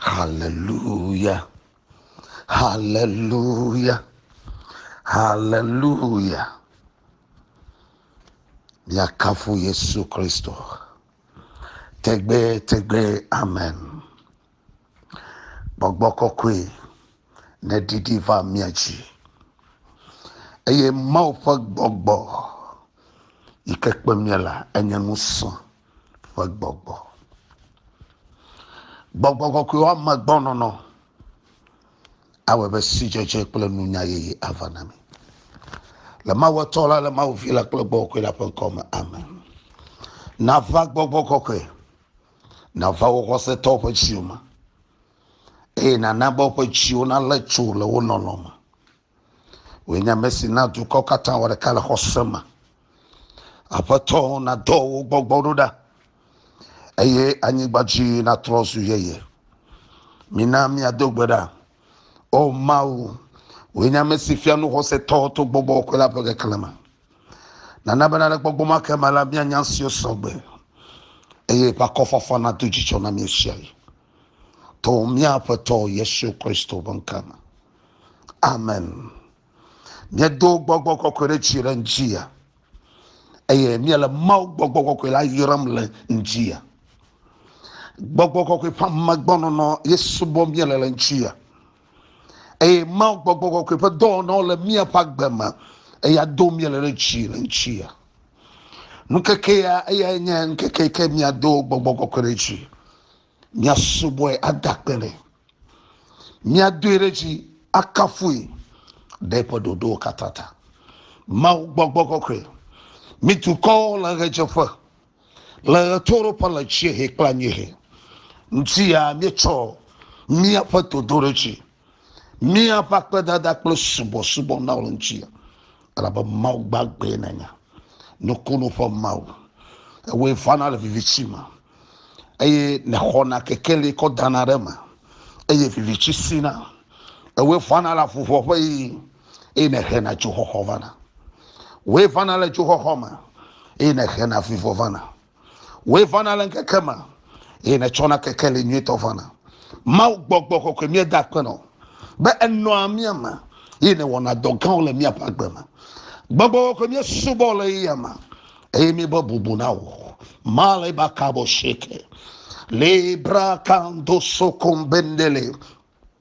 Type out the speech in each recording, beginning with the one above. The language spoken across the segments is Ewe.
Haleluya, haleluya, haleluya. Miakafu Yesu Kristo. Tegbetegbe, amen. Gbɔgbɔ kɔkɔe neɖiɖi va mia dzi. Eye Mawu ƒe gbɔgbɔ yi ke kpe mia la enye ŋusẽ. ƒe gbɔgbɔ. Gbɔgbɔ kɔkɔe woame gbɔnɔnɔ awɔ be sidzedze kple nunya yeye ava na mi. Le Mawu Etɔ la, le Mawu Vi la kple Gbɔgbɔ Kɔkɔe la ƒe ŋkɔ me, amen. Nava Gbɔgbɔ Kɔkɔe, nava wo xɔsetɔwo ƒe dziwo me, eye nana be woƒe dziwo nalé tso le wo lɔlɔ̃ me. Wòe nye ame si na dukɔ katã wɔ ɖeka le xɔse me. Aƒetɔ nadɔ wò gbɔgbɔ ɖo ɖa, eye anyigba dzi natrɔ zu yeye. Mina míado gbe ɖa. O Mawu, wòe nye ame si fia nu xɔsetɔ to gbɔgbɔ kɔkɔe la ƒe keklẽ me. Nana bena le gbɔgbɔ ma ke me la, míanya nu siwo sɔ gbe, eye eƒe akɔfafa nado dzidzɔ na mí ɣesiaɣi. To mía Aƒetɔ Yesu Kristo ƒe ŋkɔ me. Amen. Míedo gbɔgbɔ kɔkɔe ɖe tsi ɖe ŋutia eye míele Mawu gbɔgbɔ kɔkɔe la yram le ŋutia. Gbɔgbɔ kɔkɔe ƒe amegbɔnɔnɔ ye subɔ míele le ŋutia eye Mawu gbɔgbɔ kɔkɔe ƒe dɔwɔnawo le míaƒe agbe me eye ado míele ɖe tsi le ŋutia. Nukeke ya eyae nye ŋkeke ke míado gbɔgbɔ kɔkɔe ɖe tsi. Míasubɔe ade akpe nɛ. Míadoe ɖe dzi akafui ɖe eƒe ɖoɖowo katã ta. Mawu gbɔgbɔ kɔkɔe, mi dukɔwo le ɣedzeƒe, le ɣetoɖoƒe le dziehe kple anyiehe. Ŋutiyaa míetsɔ míaƒe dodoɖedzi míaƒe akpedada kple subɔsubɔ na wò ŋuti elabe mawu gbagbe nènya nukunu ƒe mawu ewoe vana le vivitsi me eye nèxɔna kekeli kɔ dana ɖe me eye vivitsi sina ewoe vana le avuʋɔ ƒe ɣi eye nèhena dzoxɔxɔ vana woe vana le dzoxɔxɔ me eye nèhena vivɔ vana Wòe vana le ŋkeke me, eye nètsɔna kekeli nyuitɔ vana. Mawu gbɔgbɔ kɔkɔe míeda akpe nɔ, be enɔa mía me, eye nèwɔna dɔ gãwo le míaƒe agbe me. Gbɔgbɔ kɔkɔe míesubɔ le eya me, eye míebɔ bubu na wò. Male bakabo sheke. Libra kando sokombendele.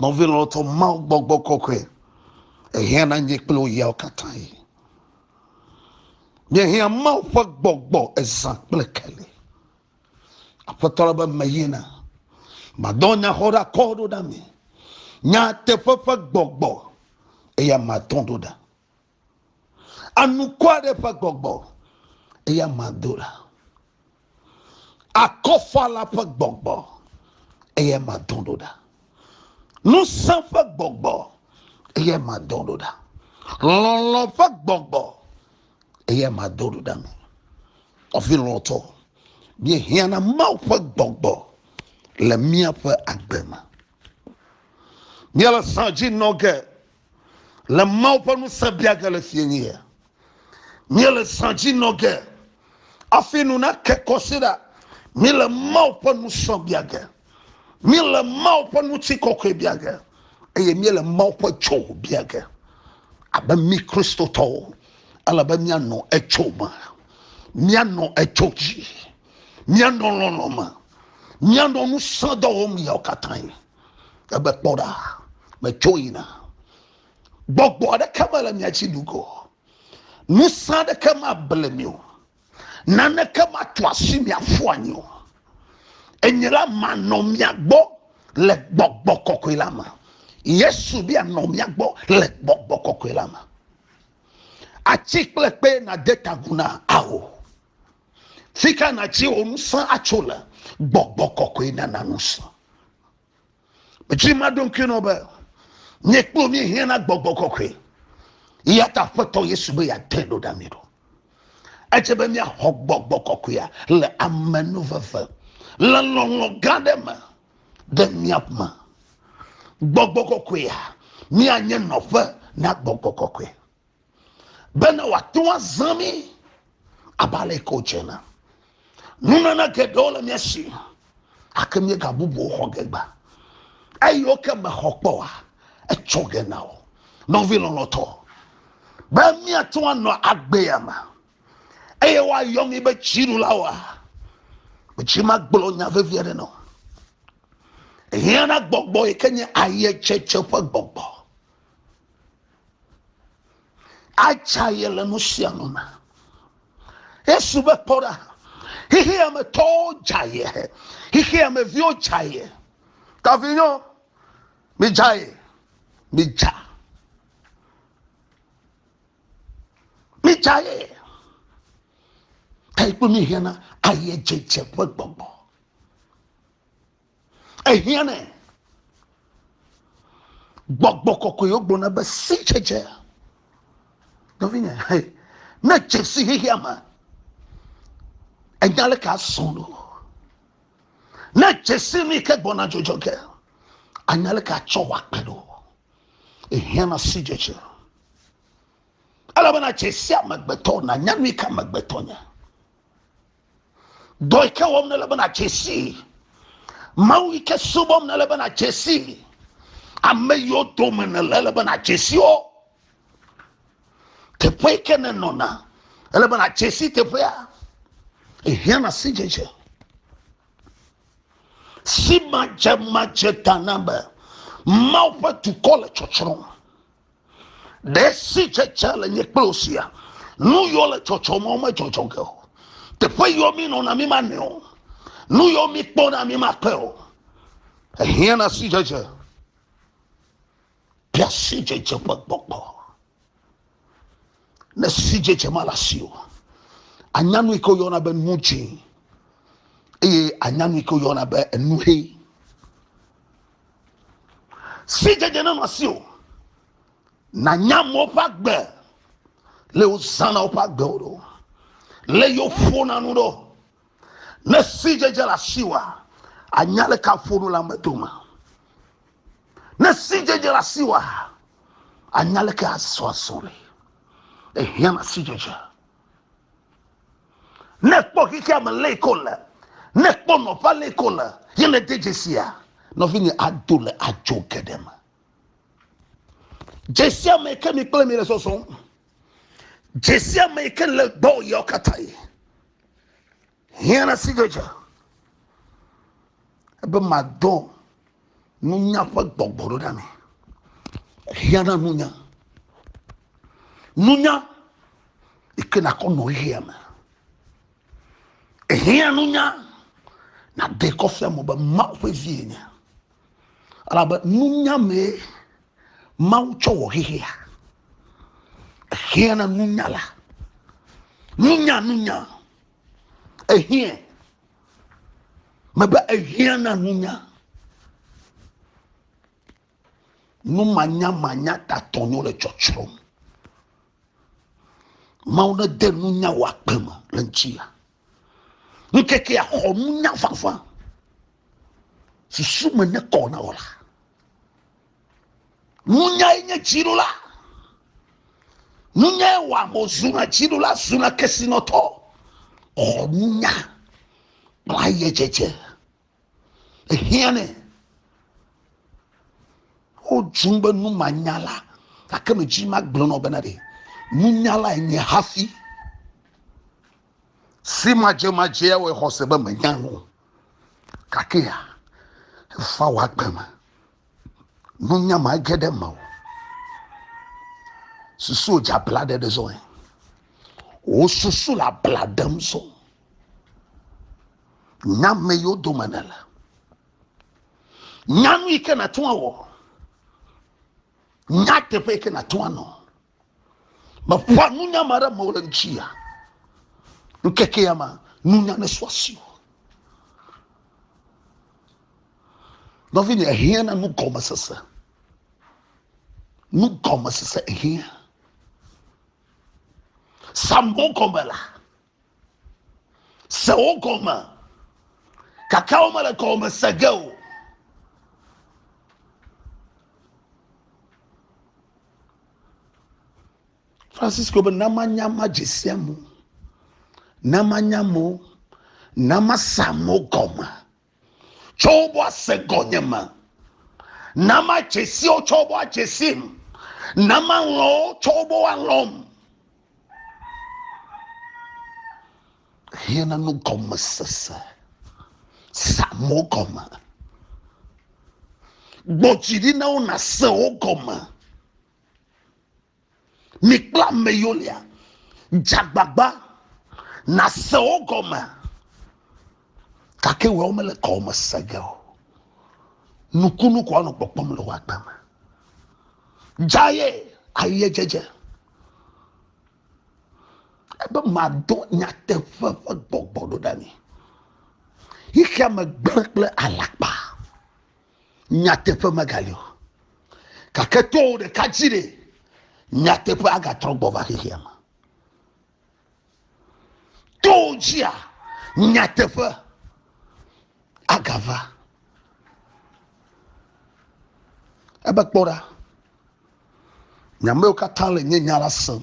Nɔvi lɔlɔ̃tɔ, Mawu gbɔgbɔ kɔkɔe ehiã na nye kple wò yawo katãe. Míehiã Mawu ƒe gbɔgbɔ ezã kple keli. Aƒetɔ la be meyina, madɔ nyaxɔ ɖa kɔ ɖo ɖa mi, nyateƒe ƒe gbɔgbɔ, eya matɔ ɖo ɖa. Anukɔ aɖe ƒe gbɔgbɔ eya ma do la. Akɔfala ƒe gbɔgbɔ eya ma do ɖo ɖa. Ŋusẽ ƒe gbɔgbɔ eya ma do ɖo ɖa. Lɔlɔ ƒe gbɔgbɔ eya ma do ɖo ɖa me. Ɔvi lɔtɔ, bie hiana Mawu ƒe gbɔgbɔ le míaƒe agbe me. Míele sa dzi nɔ ge. Le Mawu ƒe ŋusẽ bia ge le fiẽnyea, míele zã dzi nɔ ge afi nu nake kɔ si ɖa. Míele Mawu ƒe ŋusẽ bia ge, míele Mawu ƒe ŋutikɔkɔe bia ge, eye míele Mawu ƒe tso bia ge. Abe mí Kristotɔwo, ele be míanɔ etso me, míanɔ etso dzi, míanɔ lɔlɔ̃ me, míanɔ ŋusẽ dɔ wɔm ɣeawo katãe. Egbe kpɔ ɖa, metso yina. Gbɔgbɔ aɖeke mele mia dzi nugo. Ŋusẽ aɖeke mable mi o. Naneke matu asi mi aƒu anyi o. Enye la manɔ mia gbɔ le gbɔgbɔ kɔkɔe la me. Yesu bia nɔ mia gbɔ le gbɔgbɔ kɔkɔe la me. Atsi kple kpe na de tagu na ao. fi ka nàtsi wò ŋusẽ atso le gbɔgbɔ kɔkɔe nana ŋusẽ metsi ma ɖo ŋkui nɔ be nye kplo mi hiã na gbɔgbɔ kɔkɔe ya ta aƒetɔ yesu be yeatɔe ɖo ɖa mi ɖo edze be míaxɔ gbɔgbɔ kɔkɔea le amenuveve le lɔlɔ gã ɖe me ɖe míame gbɔgbɔ kɔkɔea míanye nɔƒe na gbɔgbɔ kɔkɔe bene wòate ŋu azã mí abe ale ke wòdze ene. Nunana geɖewo le mía si gake míegabubu wo xɔ ge gba. Eyiwo ke mèxɔ kpɔ oa, etsɔ ge na wò. Nɔvi lɔlɔ̃tɔ, be míate ŋu anɔ agbea me eye woayɔ mí be dziɖulawoa, medzi magblɔ nya vevi aɖe na wò. Ehiã na gbɔgbɔ yi ke nye ayedzedze ƒe gbɔgbɔ. Atsa ye le nu sia nu me. Yesu be kpɔ ɖa, xexea me tɔwo dza ye, xexea me viwo dza ye. Tavinyɔ, midza ye, midza. Midza ye. Ta ikpe mi hiana ayedzedze ƒe gbɔgbɔ. ehiãnɛ. Gbɔgbɔ kɔkɔewo gblɔna be sidzedze. Nɔvinye, ne dze si xexea me, enya leke asɔ ɖo. Ne dze si nu yi ke gbɔna dzodzɔ ge, anya leke atsɔ wɔ akpe ɖo. Ehiãna sidzedze. Elabena dze si amegbetɔ nanya nu yi ke amegbetɔ nye. Dɔ yi ke wɔm nele be nadze sii. Mawu yi ke subɔm nele be nadze sii. Ame yiwo dome nele ele be nadze si wo. Teƒe yi ke nenɔna ele be nadze si teƒea. Ehiãna sidzedze. Simadzemadze ta na be Mawu ƒe dukɔ le tsɔtsrɔ̃m. ɖe sitsetse le nye kple sia nu yɔ le tsɔtsɔm o medzɔdzɔ ge o teƒe yɔ mi nɔna mi ma nɛ o nu yɔ mi kpɔna mi ma kpɛ o ehiã na sitsetse bia sitsetse ƒe gbɔgbɔ ne sitsetse ma le asi o anya nu yi ke woyɔna be nu dzĩ eye anya nu yi ke woyɔna be enu ʋe si dzedze ne nɔsi o na nyamɔ ƒe agbe le wo zana woƒe agbe wo ɖo le yo fo na nu ɖo ne si dzedze le asi wa anya le ka fo nu le ame dome ne si dzedze le asi wa anya le ka asɔ asɔ le ehiã na si dzedze. Ne kpɔ xexea me lé ko le, ne kpɔ nɔƒa lé ko le, ye ne de dzesia, nɔvinye ado le adzo geɖe me. Dzesia me ke mi kple mi le sɔsɔ. Dzesia me ke le gbɔ yawo katã ye. Hiã na sidzedze be madɔ nunya ƒe gbɔgbɔ ɖo ɖa me. Hiã na nunya. Nunya yi ke nakɔ nɔ ɣeya me. Hiã nunya nade kɔfia mo be Mawu ƒe vie nye. Elabe nunya mee Mawu tsɔ wɔ xexea. Hiã na nunyala. Nunya, nunya. ehiã mebe ehiã na nunya numanyamanya tatɔ nyo le tsɔtsrɔm mawu ne de nunya wɔ akpe me le ŋuti ya ŋkeke ya xɔ nunya fafa susu me ne kɔ na wɔ la Nunyae nye dziɖula. Nunyae wɔ ame zuna dziɖula zuna kesinɔtɔ. Xɔ nunya kple ayedzedze. Ehiãnɛ. Wodzum be numanyala gake medzi magblɔ nɔ bena ɖe nunyala enye hafi. Si madzemadzea wɔe xɔse be menya nu. Gakea efa wɔ agbe me. nunya ma ge ɖe mewò susu dze abla ɖe ɖe zɔe wò susu le abla ɖem zɔ nya me yiwo dome nele nya nu yi ke nàte ŋu awɔ nya teƒe yi ke nàte ŋu anɔ Meƒoa nunya ma ɖe amewo ɖe ŋuti ya. Ŋkeke ya ma, nunya ne sɔ asi o. Nɔvi nye hiã na nugɔmesese. Nugɔmesese hiã. Sambo gɔme la. Se wo gɔme. Kaka wo mele gɔme se ge o. Francisco be na manya ma dzesia mo, na manya mo, na masa mo gɔme. tsɔ woƒe ase gɔnye me. Na madze si wo tsɔ woƒe adze sim. Na malɔ̃ wo tsɔ woƒe alɔ̃m. Hiãna nu gɔme sese. Sa mo gɔme. Gbɔ dzi ɖi na wo nase wo gɔme. Mi kple ame yiwo lia, dze agbagba nàse wo gɔme, gake woawo mele gɔme se ge o. Nukunu ko anɔ kpɔkpɔm le wò agbe me. Dzaye aye dzedze. Ebe mado nyateƒe ƒe gbɔgbɔ ɖo ɖe mi. Xexea me gblẽ kple alakpa. Nyateƒe megali o. Gake to wò ɖeka dzi ɖe, nyateƒe agatrɔ gbɔ va xexea me. To wò dzia, nyateƒe agava. Ebe kpɔ ɖa, nyamewo katã le nye nya la sem.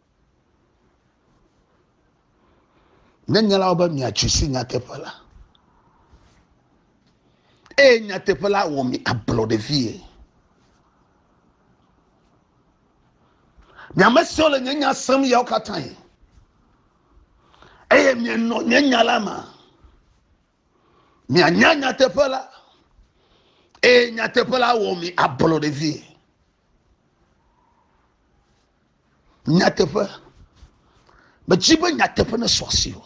Ne nyala wo be miatsi si nyateƒe la, eye nyateƒe la wɔ mi ablɔ ɖe vie. Miame siwo le nye nya sem yawo katãe, eye mienɔ nye nya la me. mianya nyateƒe la eye nyateƒe la wɔ mi ablɔ ɖe vie nyateƒe medzi be nyateƒe ne sɔ asi o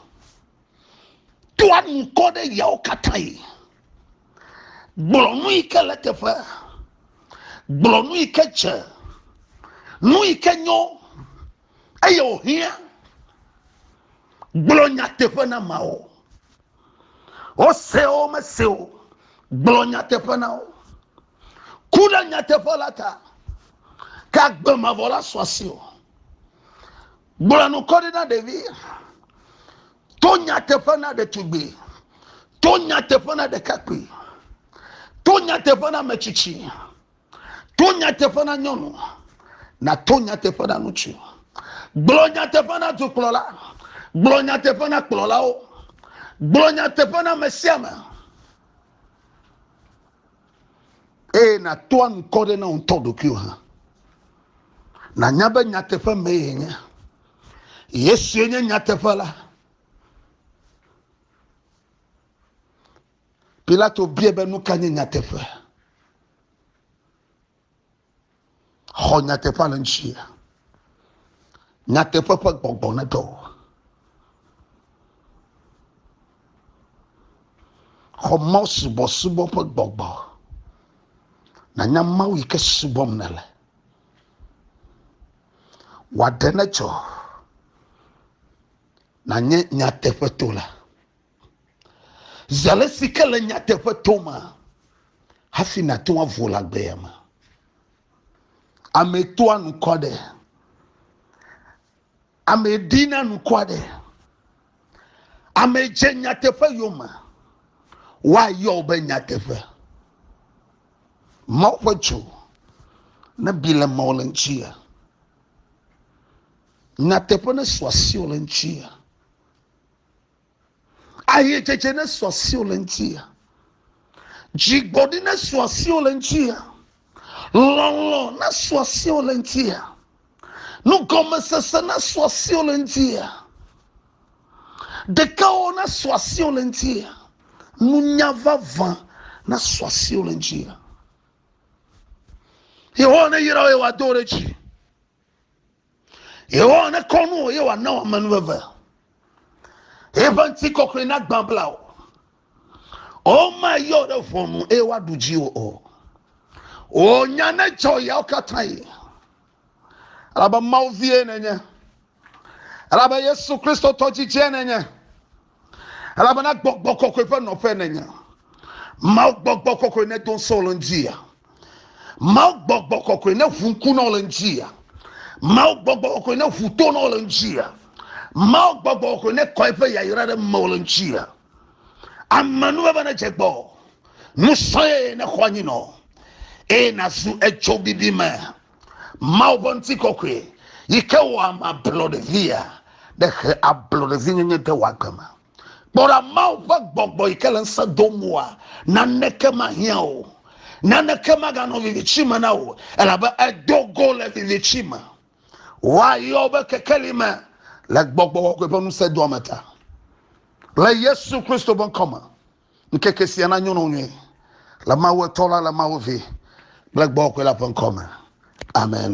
toa nukɔ ɖe yawo katã yi gblɔ nu yi ke le teƒe gblɔ nu yi ke dze nu yi ke nyo eye wòhiã gblɔ nyateƒe na ameawo. Wose wo mese o, gblɔ nyateƒe na wo. Ku ɖe nyateƒe la ta, ke agbe mavɔ la sɔ asi o. Gblɔ nu kɔ ɖi na ɖevi, to nyateƒe na ɖetugbui, to nyateƒe na ɖekakpui, to nyateƒe na metsitsi. To nyateƒe na nyɔnu, nato nyateƒe na ŋutsu. Gblɔ nyateƒe na dukplɔla, gblɔ nyateƒe na kplɔlawo, gblɔ nyateƒe na ame sia ame. Eye nato ankɔ ɖe na ŋutɔ ɖokuiwo hã. Nanya be nyateƒe mee yenye. Yesue nye nyateƒe la. Pilato biae be, Nu ka nye nyateƒe? Xɔ nyateƒea le ŋuti. Nyateƒe ƒe gbɔgbɔ ne ɖe wò. Xɔ Mawu subɔsubɔ ƒe gbɔgbɔ. Nànya Mawu yi ke subɔm nèle. Wòaɖe ne tsɔ. Nànye nyateƒetola. Zi ale si ke le nyateƒe tom hafi nàto avo le agbea me. Ame toa nu kɔ ɖe. Ame ɖina nu kɔ ɖe. Ame dze nyateƒe yome. Woayɔ wo be nyateƒe. Mawu ƒe dzo ne bi le mɔ le ŋuti ya. Nyateƒe ne su asi le ŋuti ya. Ayetsetse nesɔ asiwò le ŋutia. Dzigbɔɖi nesɔ asiwò le ŋutia. Lɔlɔ̃ nesɔ asiwò le ŋutia. Nugɔmesese nesɔ asiwò le ŋutia. Ɖekawo nesɔ asiwò le ŋutia. Nunya vavã nesɔ asiwò le ŋutia. Yehowa neyra wò eye wòado wò ɖe dzi. Yehowa nekɔ nu wò eye wòana wò amenuveve. Eƒe ŋutikɔkɔe nagbã bla wò. Womayɔ ɖe ʋɔnu eye woaɖu dziwò o. Wò nya nedzɔ yawo katã yi. Elabe Mawu vie nenye. Elabe Yesu Kristo tɔ dzidzie nenye. elabena gbɔgbɔ kɔkɔe ƒe nɔƒe nènya mawu gbɔgbɔ kɔkɔe ne do ŋusẽ le ŋutia mawu gbɔgbɔ kɔkɔe ne ʋu ŋku nɔ le ŋutia mawu gbɔgbɔ kɔkɔe ne ʋu to nɔ le ŋutia mawu gbɔgbɔ kɔkɔe ne kɔe ƒe yayra ɖe mewò le ŋutia ame nu bebe ne dze gbɔ nusɔe ne xɔ anyi nɔ eye nazu etso bibi me Mawu ƒe ŋutikɔkɔe yi ke wɔ ame ablɔɖevia ɖe he ablɔɖevinyenye de wò agbe me. Kpɔ ɖa Mawu ƒe gbɔgbɔ yi ke le ŋusẽ dom wòa naneke mahiã o. Naneke maganɔ viviti me na wò elabe èdo go le viviti me. Woayɔ wò be kekeli me le gbɔgbɔ kɔkɔe ƒe ŋusẽdoame ta. Le Yesu Kristo ƒe ŋkɔ me. Ŋkeke sia na nyɔnu nyui le Mawu etɔ la le Mawu vi kple gbɔwɔkɔe la ƒe ŋkɔ me. Amen.